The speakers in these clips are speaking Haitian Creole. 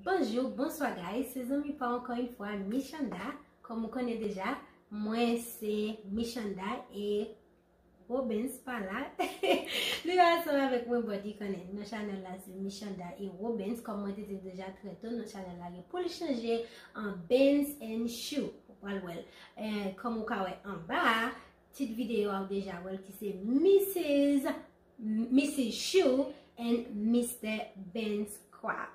Bonjour, bonsoir guys, se zanmi pa w ankò yon fwa Michanda, kòm ou konnen deja mwen se Michanda e Robens pa la li pa ansanm avèk mwen but li konnen nan chanèl la se Michanda e Robens kòm mwen te di deja trè to nan chanèl la gen pou l chanje an Benz and Chou ou pral wèl kòm ou ka wè anba tit videyo a ou deja wèl ki se Mrs. Missy Chou and Mister Benz Crap.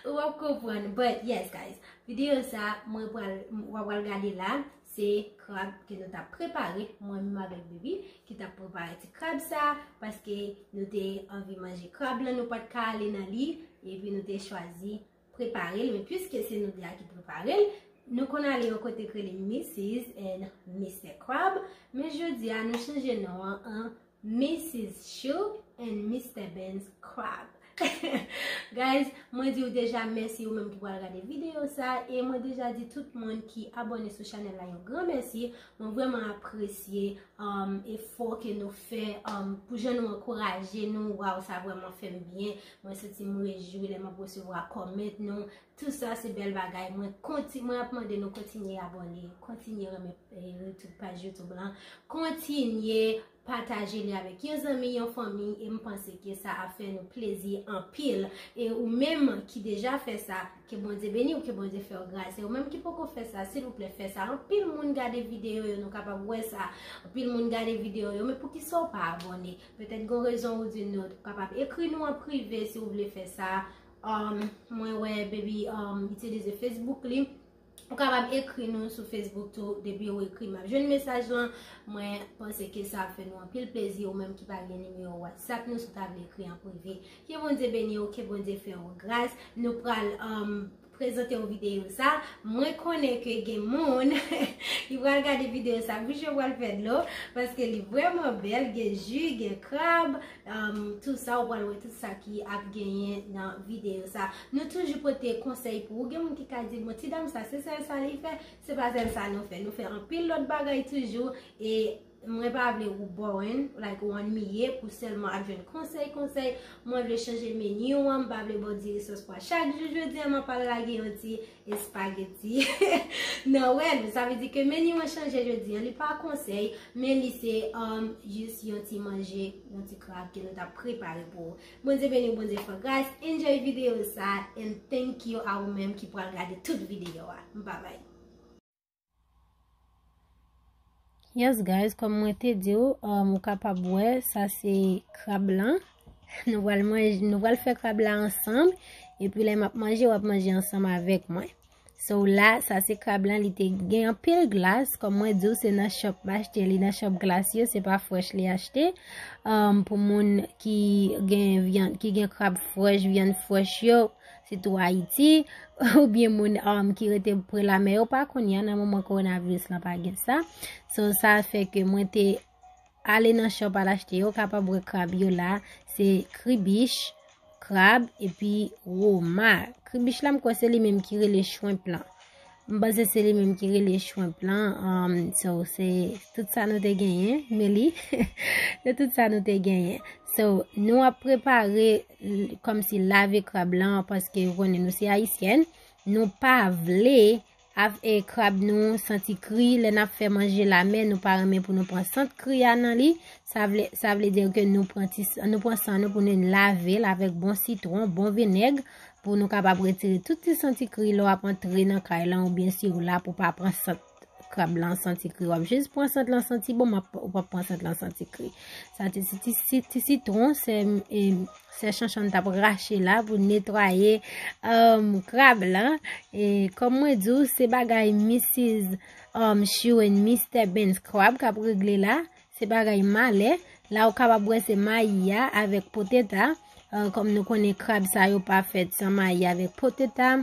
Ou ap konprann. But yes guys, video sa mwen pral, wap pral gade la, se krab ke nou ta prepare, mwen menm avèk Bibi, ki ta prepare ti krab sa, paske nou te anvi manje krab la, nou pat ka ale nan li, epi nou te chwazi. prepare l men pwiske se nou 2 a ki prepare l nou konn ale yon kote k rele Missis and Mistè Krab men jodi a nou chanje non an an Missis Chou and Mistè Ben's Krab Guys mwen di w deja mèsi ou menm ki pral gade videyo sa e mwen deja di tout moun ki abone sou chanèl la yon gran mèsi mwen vreman apresye efò ke nou fè pou jan nou ankouraje nou waw sa vreman fè m byen Mwen santi m rejwi lè map resevwa comment nou. Tout sa se bèl bagay. Mwen konti mwen ap mande nou kontinye abone, kontinye renmen youtube paj youtube lan, kontinye pataje li avèk yon zanmi, yon fanmi e m panse ke sa ap fè nou plezi anpil. E ou menm ki deja fè sa, ke Bondye beni w, ke Bondye fè w gras. E ou menm ki poko fè sa, silvouplè fè sa. Anpil moun gade video yo, nou kapab wè sa. Anpil moun gade video yo, men poukisa w pa abone? Petèt gon rezon ou di not. Ou kapab ekri nou an prive si ou vle fè sa. Um, mwen wè baby um, itilize Facebook li. Ou kapab ekri nou sou Facebook tou. Depi ou ekri map jwenn mesaj lan. Mwen panse ke sa ap fè nou anpil plezi ou menm ki pa gen nimewo WhatsApp nou si ou ta vle ekri an prive. Ke Bondye beni ou, ke Bondye fè ou gras. Nou pral um, prezante w videyo sa, mwen konnen ke gen moun ki pral gade videyo sa bouch yo pral fè dlo paske li vreman bèl gen ju, gen krab tout sa ou pral wè tout sa ki ap genyen nan videyo sa nou toujou pote konsèy pou ou gen moun ki ka di bon ti dam sa se sèl sa li fè se pa sèl sa nou fè nou fè anpil lòt bagay toujou e Mwen pa vle ou boring like ou annuiye pou selman ap jwenn konsey konsey, mwen vle chanje menu an, m pa vle baw diri sos pwa chak jou, jodia mwen pral lage yon ti espageti nan wè nou, sa vle di ke menu an chanje jodi an, li pa konsey men li se jis yon ti manje, yon ti krab ke nou tap prepare pou ou. Bondye beniw Bondye fè w gras, enjoy video sa and thank you a ou menm ki pral gade tout video a. M pa bay. Yes guys, kòm mwen te di ou, um, ou kapab wè, sa se krab lan. Nou wal manje, nou wal fè krab la ansanm, epi lè map manje, wap manje ansanm avèk mwen. So la, sa se krab lan, li te gen anpil glas, kòm mwen di ou, se nan shop m achte li, nan shop glas yo, se pa fresh li achte. Um, pou moun ki gen vyan, ki gen krab fresh, vyan fresh yo, Sitou Ayiti, ou byen moun um, ki rete pre la mè yo pa kounye a nan moman coronavirus la pa gen sa. So sa fè ke mwen te ale nan shop al achte yo kapab wè krab yo la, se kribich, krab, epi roma. Kribich la m kwè se li menm ki rele shrimp lan. M panse se li menm ki rele shrimp lan, um, so se tout sa nou te genyen, Meli, se tout sa nou te genyen. So, nou ap prepare kòm si lave krab lan paske ou konnen nou se ayisyèn. Nou pa vle ap e krab nou santi kri. Lè n ap fè manje lamè nou pa renmen pou nou pran sant kri a nan li. Sa vle sa vle dire ke nou pran ti nou pran san nou pou nou lave l avèk bon sitwon, bon vinèg pou nou kapab retire tout ti santi kri lè w ap antre nan kay lan oubyen si w la pou pa pran sant. Krab lan santi kri wap jis pran sant lan santi bon map ou pap pran sant lan santi kri. Sa ti ti ti sitron se e se chanchan tap rache la pou netwaye um, krab lan e kom mwen di ou se bagay Mrs. Um, Shoe and Mr. Benz krab kap regle la, se bagay male, la ou kapab wè se mayi ya avèk poteta, kom euh, nou konnen krab sa yo pa fèt san mayi avèk poteta.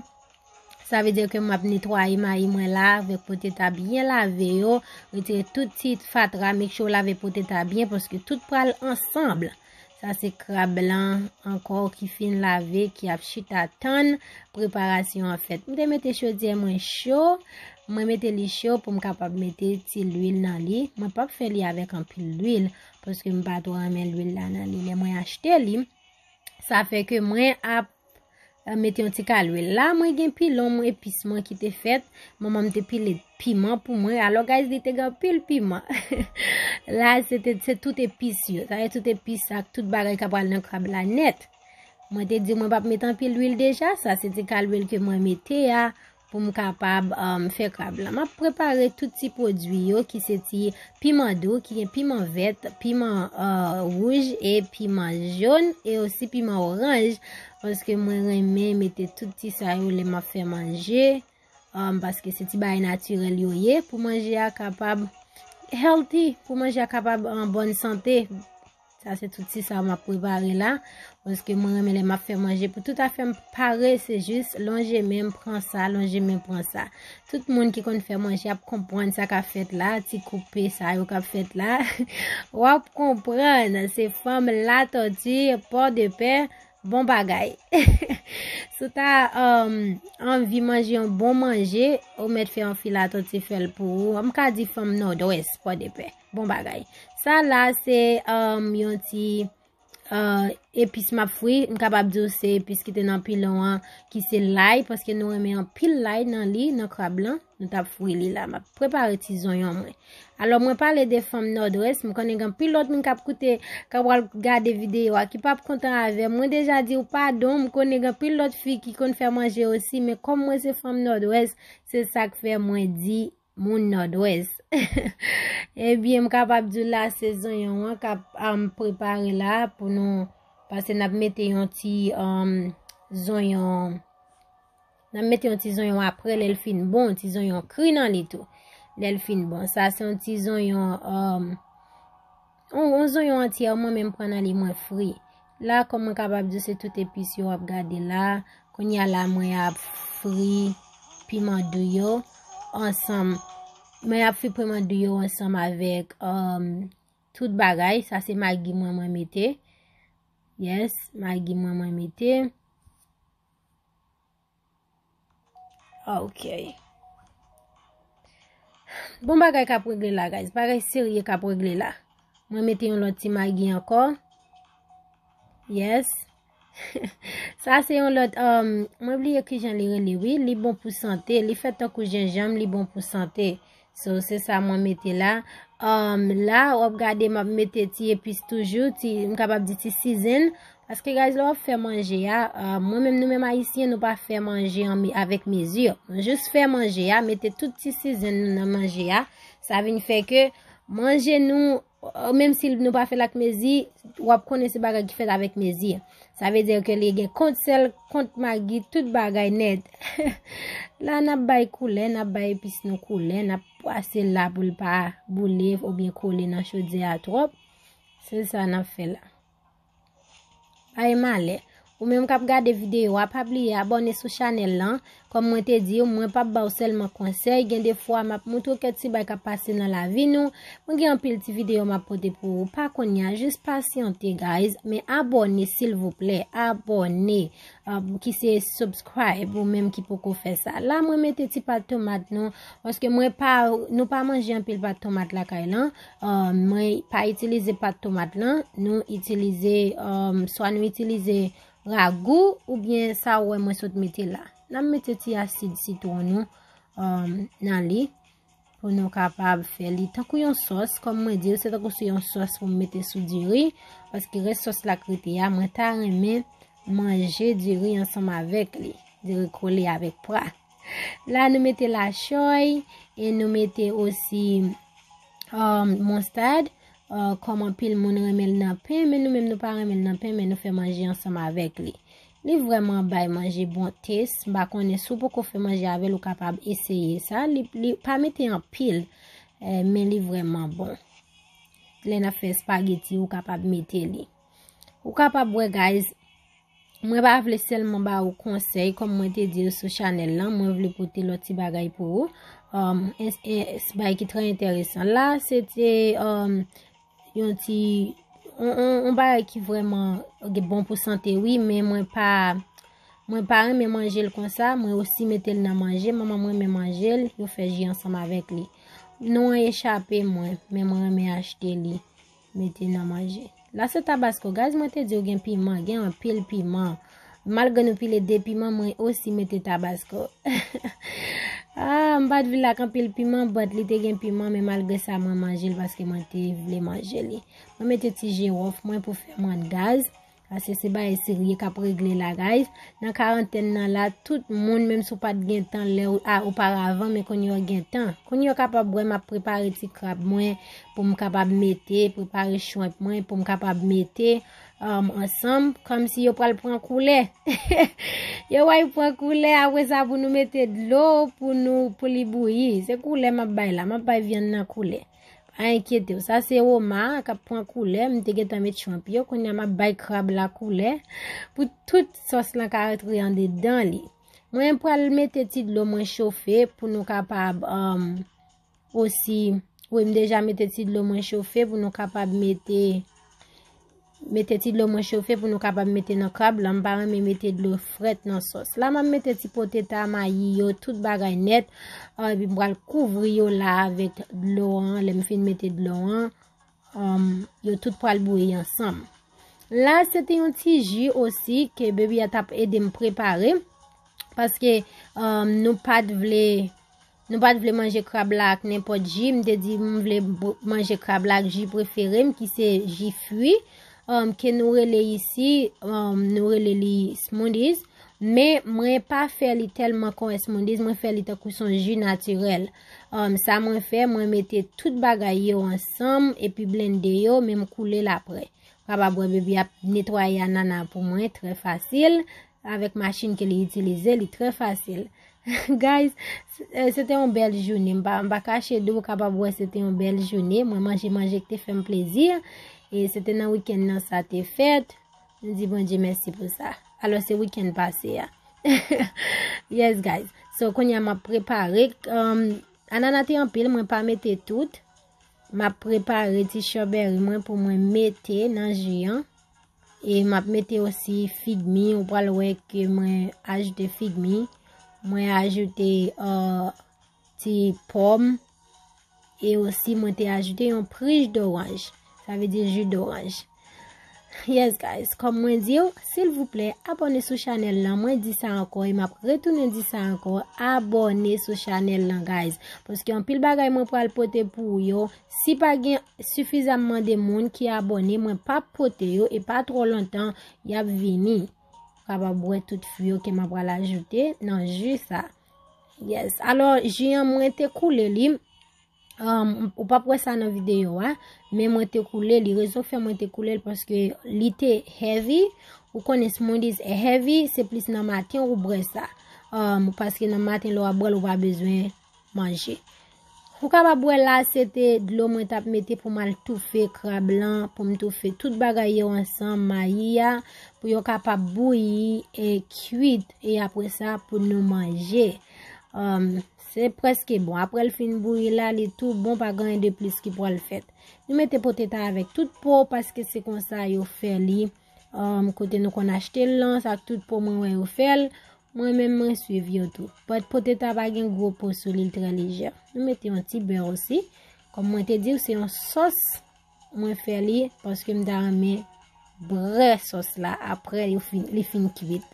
Sa vle dire ke m ap netwaye mayi mwen la avèk po tete a byen lave yo, retire tout ti fatra, make sure w lave po tete a byen paske tout pral ansanm. Sa se krab lan ankò ki fin lave ki ap chita tann preparasyon an fèt. M te mete chodyè mwen cho, mwen mete li cho pou m kapab mete ti lwil nan li. Mwen pap fè li avèk anpil lwil paske m pa twò renmen lwil la nan li lè mwen achte li. Sa fè ke mwen ap M mete yon ti ka lwil la, mwen gen pilon mwen epis mwen ki te fèt, manman m te pile piman pou mwen, alò guys li te gen anpil piman. La se te se tout epis yo, sa e tout epis ak tout bagay ka pral nan krab la nèt. Mwen te di mwen pap met anpil lwil deja, sa se ti ka lwil ke mwen mete a pou m kapab fè krab la. M ap prepare tout ti pwodui yo ki se ti piman dou ki gen piman vèt, piman wouj e piman joun e osi piman oranj paske mwen renmen mete tout ti sa yo lè m ap fè manje paske se ti bay natirèl yo ye pou manje a kapab healthy, pou manje a kapab an bòn sante. Sa se tout ti sa map prepare la. Paske mwen renmen lè map fè manje pou tout afèm pare se jis lonje menm pran sa, lonje menm pran sa. Tout moun ki konn fè manje ap konprann sa ka fèt la, ti koupe sa yo kap fèt la. Wap konprann, se fanm la tòti, pò de pè, bon bagay. Sou ta um, anvi manje yon bon manje, ou mèt fè yon filatòti fèl pou ou. Mka di fanm nòdwès, pò de pè. Bon bagay. Sa la se yon ti epis map fri. M kapab di ou se epis ki te nan pilon an ki se lay. Paske nou renmen an pil lay nan li, nan krab lan. Nou tap fri li la. Map prepare ti zonyon mwen. Alo mwen pale de fanm nòdwès. M konnen gen pil lòt moun kap koute, kap wal gade videyo a. Ki pap kontan avè. Mwen deja di ou padon. M konnen gen pil lòt fi ki konn fè manje osi. Men kòm mwen se fanm nòdwès, se sak fè mwen di. Moun Nòdwès. Ebyen m kapab di w la se zonyon an k ap prepare la pou nou pase n ap mete yon ti zonyon n ap mete yon ti zonyon apre lè l fin bon yon ti zonyon kri nan li tou lè l fin bon sa se yon ti zonyon On zonyon antyè mwen menm pran nan li mwen fri. La kòman kapab di se tout epis yo wap gade la. Kounye a la mwen ap fri piman dou yo ansanm. Mwen ap fri piman dou yo ansanm avèk um, tout bagay. Sa se magi mwen mwen mete. Yes, magi mwen mwen mete. Ok. Bon bagay kap regle la guys. Bagay serye kap regle la. Mwen mete yon lot ti magi anko. Yes. Sa se yon lot. Um, mwen bliye kijan li rele wi. Li bon pou sante. Li fet tankou jenjanm. Li bon pou sante. So se sa mwen mete la. Um, la wap gade map mete ti epis toujou, ti, m kapab di ti season. Paske guys, lè wap fè manje a, um, mwen menm nou menm ayisyen nou pa fè manje an me, avèk mezi. Nou jous fè manje a, mete tout ti season nou nan manje a. Sa vin fè ke manje nou Menm si nou pa fèl ak mezi, wap konnen se bagay ki fèt avèk mezi. Sa vle dire ke li gen kont sèl, kont magi, tout bagay nèt. La nap bay koulè, nap bay epis nou koulè, nap pwase la pou l pa boule ou byen kole nan chodyè a twòp. Se sa nap fè la. Bay malè. Ou menm kap gade videyo a pa bliye abone sou chanel lan. Kom mwen te di ou mwen pap baw selman konsey gen de fwa map moutre ou kèk ti bay kap pase nan lavi nou. Mwen gen anpil ti videyo map pote pou ou pa konya jis pasyante guys men abone silvouplè abone ki se subscribe ou menm ki poko fè sa. La mwen mete ti pat tomat nou paske mwen pa nou pa manje anpil pat tomat lakay lan Mwen pa itilize pat tomat lan, nou itilize, swa nou itilize ragou oubyen sa ou wè mwen sot mete la. Nan mete ti asid sitwon nou nan li pou nou kapab fè li tankou yon sòs. Kòm mwen di ou se tankou sou yon sòs pou mete sou diri. Paske res sòs la krete ya, mwen ta renmen manje diri ansanm avèk li. Diri kole avèk pwa. La nou mete la choy e nou mete osi um, monstad. Uh, kòm anpil moun renmen nan pen, men nou menm nou pa renmen nan pen, men nou fè manje ansanm avèk li. Li vrèman bay manje bon tes, m pa konnen sou poko fè manje avèl ou kapab eseye sa, li, li pa mete anpil, eh, men li vrèman bon. Lè na fè spageti ou kapab mete li. Ou kapab wè guys, Mwen pa vle sèlman ba ou konsèy kòm mwen te di ou sou chanèl lan, mwen vle pote lòt ti bagay pou ou. Um, s bay ki trè enteresan. La, se te um, yon ti... On bagay ki vreman bon pou sante, wi, men mwen pa... Mwen pa reme manje l konsa, mwen osi mete l nan manje, mwen mwen reme manje l, yo fè ji ansanm avèk li. Non an echape mwen, men mwen reme achte li. Mete nan manje. La se tabasco guys mwen te diw gen piman gen anpil piman malgre nou pile 2 piman mwen osi mete tabasco ah m pat vle ak anpil piman but li te gen piman men malgre sa mwen manjel paske mwen te vle manje li mwen mete ti jirof mwen pou fè mwen gaz Paske se bagay serye k ap regle la guys. Nan karantèn nan la, tout moun menm si w pa t gen tan lè oparavan men kounye w gen tan. Kounye w kapab wè m ap prepare ti krab mwen pou m kapab mete, prepare shrimp mwen pou m kapab mete ansanm kòmsi yo pral pran koulè. Yo wè yo pran koulè apre sa pou nou mete dlo pou li bouyi. Se koulè m ap bay la, m ap bay vyann nan koulè. Pa enkyete w, sa se oma a k ap pran koulè, m te gentan met shrimp yo, kounye a m ap bay krab la koulè pou tout sòs lan ka rantre andedan li. Mwen pral mete ti dlo mwen chofe pou nou kapab um, osi, wi m deja mete ti dlo mwen chofe pou nou kapab mete Mete ti dlo mwen chofe pou nou kapab mete nan krab lan, m pa renmen mete dlo frèt nan sòs la, map mete ti poteta, mayi yo, tout bagay nèt, epi m pral kouvri yo la avèk dlo an, lèm fin mete dlo an, yo tout pral bouyi ansanm. La se te yon ti ji osi ke bebi a tap edem prepare, paske nou pat vle. Nou pat vle manje krab la ak nenpòt ji, m te di m vle manje krab la ak ji prefere m ki se ji fwi, ke nou rele isi, nou rele li smoothies, men mwen pa fè li tèlman kon smoothies, mwen fè li tankou son ji natirèl. Sa mwen fè, mwen mete tout bagay yo ansanm, epi blende yo, men m koule l aprè. Krab a bwè bebi ap netwaye anana pou mwen, trè fasil. Avèk machin ke li itilize, li trè fasil. Guys, se te yon bèl jouni. M pa kache di ou kapab wè se te yon bèl jouni. Mwen manje manje ki te fè m plezi. E se te nan wikèn nan sa te fèt. M di bon Dye mèsi pou sa. Alò se wikèn pase a. Yes guys. So konya m ap prepare. Um, anana te anpil, mwen pa mete tout. M ap prepare ti chobèri mwen pou mwen mete nan jiyan. E map mete osi figmi, ou pral wè ke mwen ajoute figmi, mwen ajoute euh, ti pòm, e osi mwen te ajoute yon prij doranj, sa vle di ju doranj. Yes guys, kòm mwen di yo, silvouplè abone sou chanèl lan, mwen di sa ankò e map retounen di sa ankò, abone sou chanèl lan guys, paske yon pil bagay mwen pral pote pou yo, Si pa gen sufizamman de moun ki abone mwen pap pote yo e pa tro lontan yap vini. Ou kapab wè tout fwi yo ke mwen pral ajoute nan ju sa. Yes, alo ju an mwen te koule li. Um, ou pap wè sa nan video a, men mwen te koule li. Rezon fè mwen te koule li paske li te heavy. Ou konnen smoothies e heavy, se plis nan maten ou bwè sa. Um, paske nan maten lè wap bwè l ou pa bezwen Manje. Ou kapab wè la se te dlo mwen tap mete pou mal toufe krab lan, pou m toufe tout bagay yo ansanm, mayi a, pou yo kapab bouyi e kuit e apre sa pou nou manje. Se preske bon. Apre l fin bouyi la, li tou bon pa gen de plis ki pwal fèt. Nou mete potet a avèk tout po paske se konsa yo fè li. Um, kote nou konn achte l lan, sa tout po mwen wè yo fè l. Mwen menm mwen suiv yo tou. Pot poteta pa gen gwo po sou li, l trè lejè. Nou mete yon ti bè osi. Kom mwen te diw se yon sos mwen fè li paske m ta renmen brè sos la apre yo fin li fin kuit.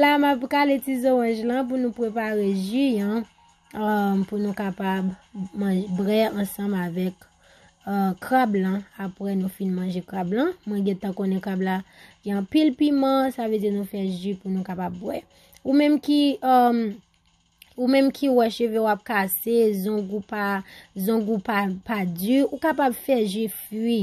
La m ap kale ti zoranj lan pou nou prepare ju an um, pou nou kapab manje brè ansanm avèk krab lan apre nou fin manje krab lan. Mwen gen tan konnen krab la gen pil piman, sa vle di nou fè ji pou nou kapab bwè. Ou menm ki um, ou menm ki wè cheve wap kase, zong ou pa, zong ou pa pa di, ou kapab fè ji fwi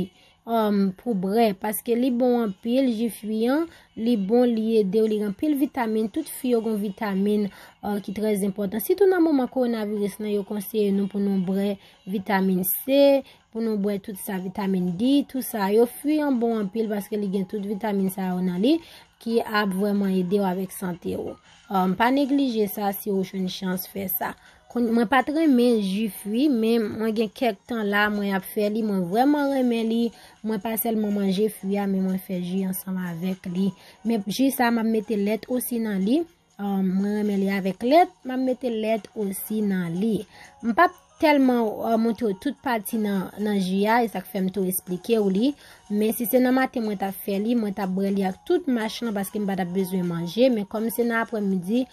um, pou brè paske li bon an pil ji fwi an, li bon li edew li gen pil vitamin, tout fwi yo gen vitamin uh, ki trèz enpòtan. Sitou nan moman kowonaviris lan yo konseye nou pou nou brè Vitamin C, pou nou bwè tout sa vitamin D, tout sa yo. Fwi an bon anpil paske li gen tout vitamin sa yo nan li ki ap vwèman ede w avèk sante ou. Pa neglije sa si ou jwenn chans fè sa. Mwen pat renmen ju fwi, men mwen gen kèk tan la mwen ap fè li, mwen vwèman renmen li. Mwen pa sèlman manje fwi a, men mwen fè ju ansanm avèk li. Men ju sa map mete lèt osi nan li. Mwen renmen li avèk lèt, map mete lèt osi nan li. M pap tèlman montre ou tout pati nan ji a, e sak fèm tou esplike ou li. Men si se nan maten mwen tap fè li, mwen tap bwè li ak tout mach lan paske m pa tap bezwen manje. Men kòm se nan aprè midi,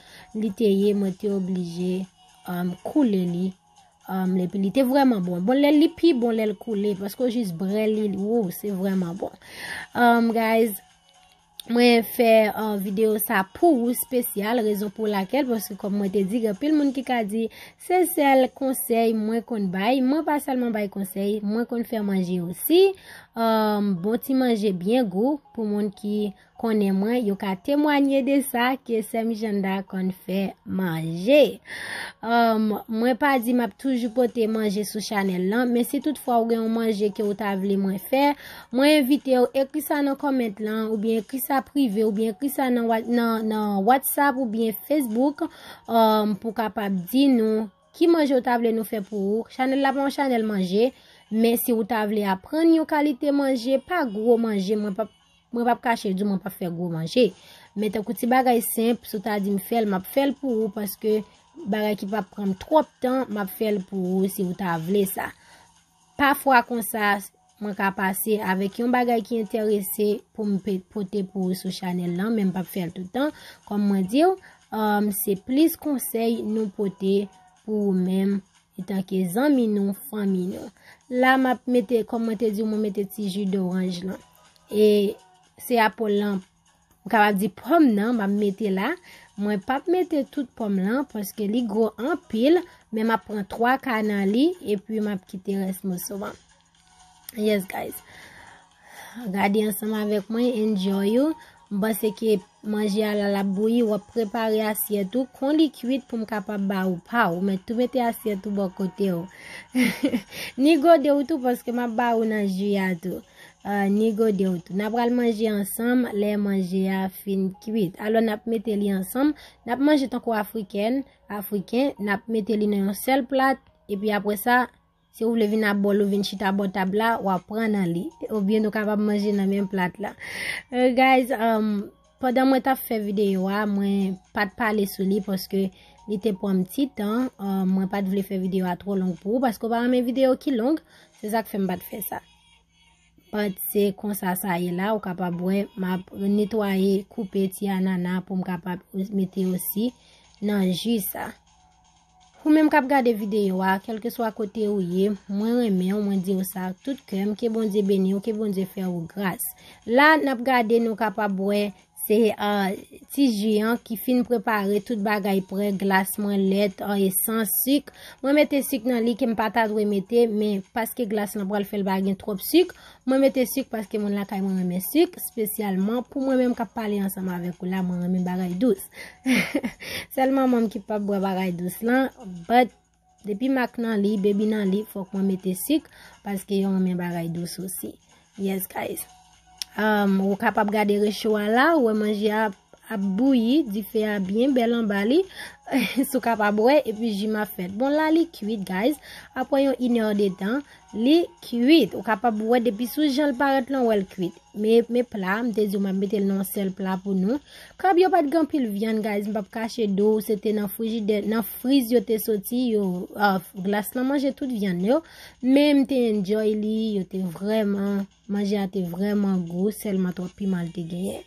li te ye mwen te oblije koule li. Epi li te vreman bon. Bon lè li pi bon lè l koule, paske ou jis bwè li, wou, se vreman bon. Guys. Mwen fè video sa pou ou spesyal, rezon pou lakel, paske kom mwen te di, gen pil moun ki ka di, se sel konsey mwen konn bay, mwen pa selman bay konsey, mwen konn fè manje osi, euh, bon ti manje byen gou, pou moun ki konnen mwen, yo ka temwanye de sa, ke sèm Janda konn fè manje. Euh, mwen pa di map toujou pote manje sou chanel lan, men si tout fwa ou gen yon manje ke ou ta vle mwen fè, Mwen envitew ekri sa nan comment lan ou byen ekri sa prive ou byen ekri sa nan whatsapp ou byen facebook um, pou kapab di nou ki manje ou ta vle nou fè pou ou. Chanel la pa yon chanel manje, men si ou ta vle aprann yon kalite manje, pa gwo manje, mwen pa mwen pa kache di mwen pa fè gwo manje. Men tan kouti bagay senp, sou ta di m fèl, m ap fèl pou ou paske bagay ki pa pranm twòp tan, m ap fèl pou ou si ou ta vle sa. Pafwa konsa mwen ka pase avèk yon bagay ki enterese pou m pote pou ou sou chanèl lan, men m pap fè l tout tan. Kòm mwen di ou, se plis konsèy nou pote pou ou menm etanke zanmi nou, fanmi nou. La m ap mete, kòm mwen te di ou, mwen mete ti ji doranj lan. E se apòl lan Ou kapab di pòm nan map mete la, mwen pap mete tout pòm lan paske li gwo anpil, men map pran 3 ka nan li epi map kite rès moso an. Yes guys. Gade ansanm avèk mwen, enjoy ou. M panse ke manje a la lap bouyi, wap prepare asyèt ou, kon li kuit pou m kapab ba ou pa ou. Mèt tou mete asyèt ou bò kote ou. Ni gode ou tou paske map ba ou nan ju a tou. Ni gode w tou. N a pral manje ansanm lè manje a fin kuit. Alò, n ap mete li ansanm. N ap manje tankou Afrikèn, Afriken. N ap mete li nan yon sèl plat. Epi apre sa, si ou vle vin a bòl ou vin chita bò tab la, w ap pran nan li. Oubyen nou kapab manje nan menm plat la. Guys, pandan mwen t ap fè videyo a, mwen pa t pale sou li paske li te pran m ti tan. Mwen pa t vle fè videyo a twò long pou ou paske ou pa renmen videyo ki long. Se sa k fè m pa t fè sa. Pat se konsa sa ye la ou kapab wè map netwaye koupe ti anana pou m kapab mete osi nan ji sa. Ou menm kap gade videyo a, kelke swa kote ou ye, mwen renmen ou, mwen di ou sa tout kèm, ke Bondye beni ou, ke Bondye fè ou gras. La nap gade nou kapab wè Se ti ji an ki fin prepare tout bagay prè, glas mwen, lèt, esans, sik. Mwen mete sik nan li ke m pa ta dwe mete, men paske glas lan pral fè l pa gen twòp sik, mwen mete sik paske moun lakay mwen renmen sik, spesyalman pou mwen menm k ap pale ansanm avèk ou la, mwen renmen bagay dous. Sèl manman m ki pap bwè bagay dous lan, but. Depi mak nan li, baby nan li fok mwen mete sik paske yo renmen bagay dous osi. Yes guys. Um, ou kapab gade recho a la, ou wè manje a ap bouyi, dife a byen bèl anba li. Sou kapab wè, epi ji ma fèt. Bon la li kuit guys, apre yon inè de tan, Li kwit, ou kapab wè depi sou jan l parèt lan wè l kwit. Me me pla a, m te di w m ap mete l nan yon sèl pla pou nou. Krab yo pa t gen anpil vyann guys, m p ap kache di w, se te nan frijidè, nan friz yo te soti, yo, ahh, glas lan manje tout vyann yo, men m te enjoy li, yo te vrèman. Manje a te vreman gou selman trop piman li te genyen.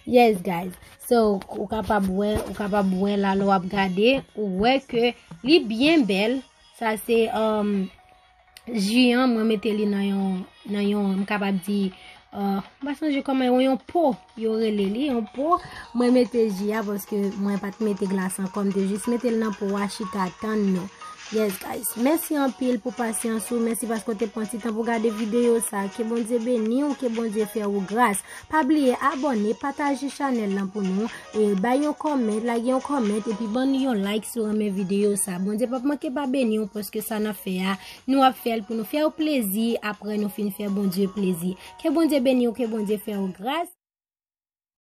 Yes guys. So ou kapab wè, ou kapab wè la lè wap gade, ou wè ke li byen bèl. Sa se um, ji an mwen mete li nan yon nan yon m kapab di uh, m pa sonje koman yon po. Yo rele li yon po. Mwen mete ji a paske mwen pat mete glas ankò. M te jis mete l nan po a chita tann nou. Yes guys. Mèsi anpil pou pasyans ou. Mèsi paske w te pran ti tan pou gade videyo sa. Ke Bondye beni w. Ke Bondye fè ou gras. Pa bliye abòne, pataje chanèl lan pou nou. E bay yon comment, lage yon comment. Epi ban nou yon like si w renmen videyo sa. Bondye pap manke pa beni w paske sa nan fè a. Nou ap fèl pou nou fèw plezi aprè nou fin fè Bondye plezi. Ke Bondye beniw ke Bondye fèw gras.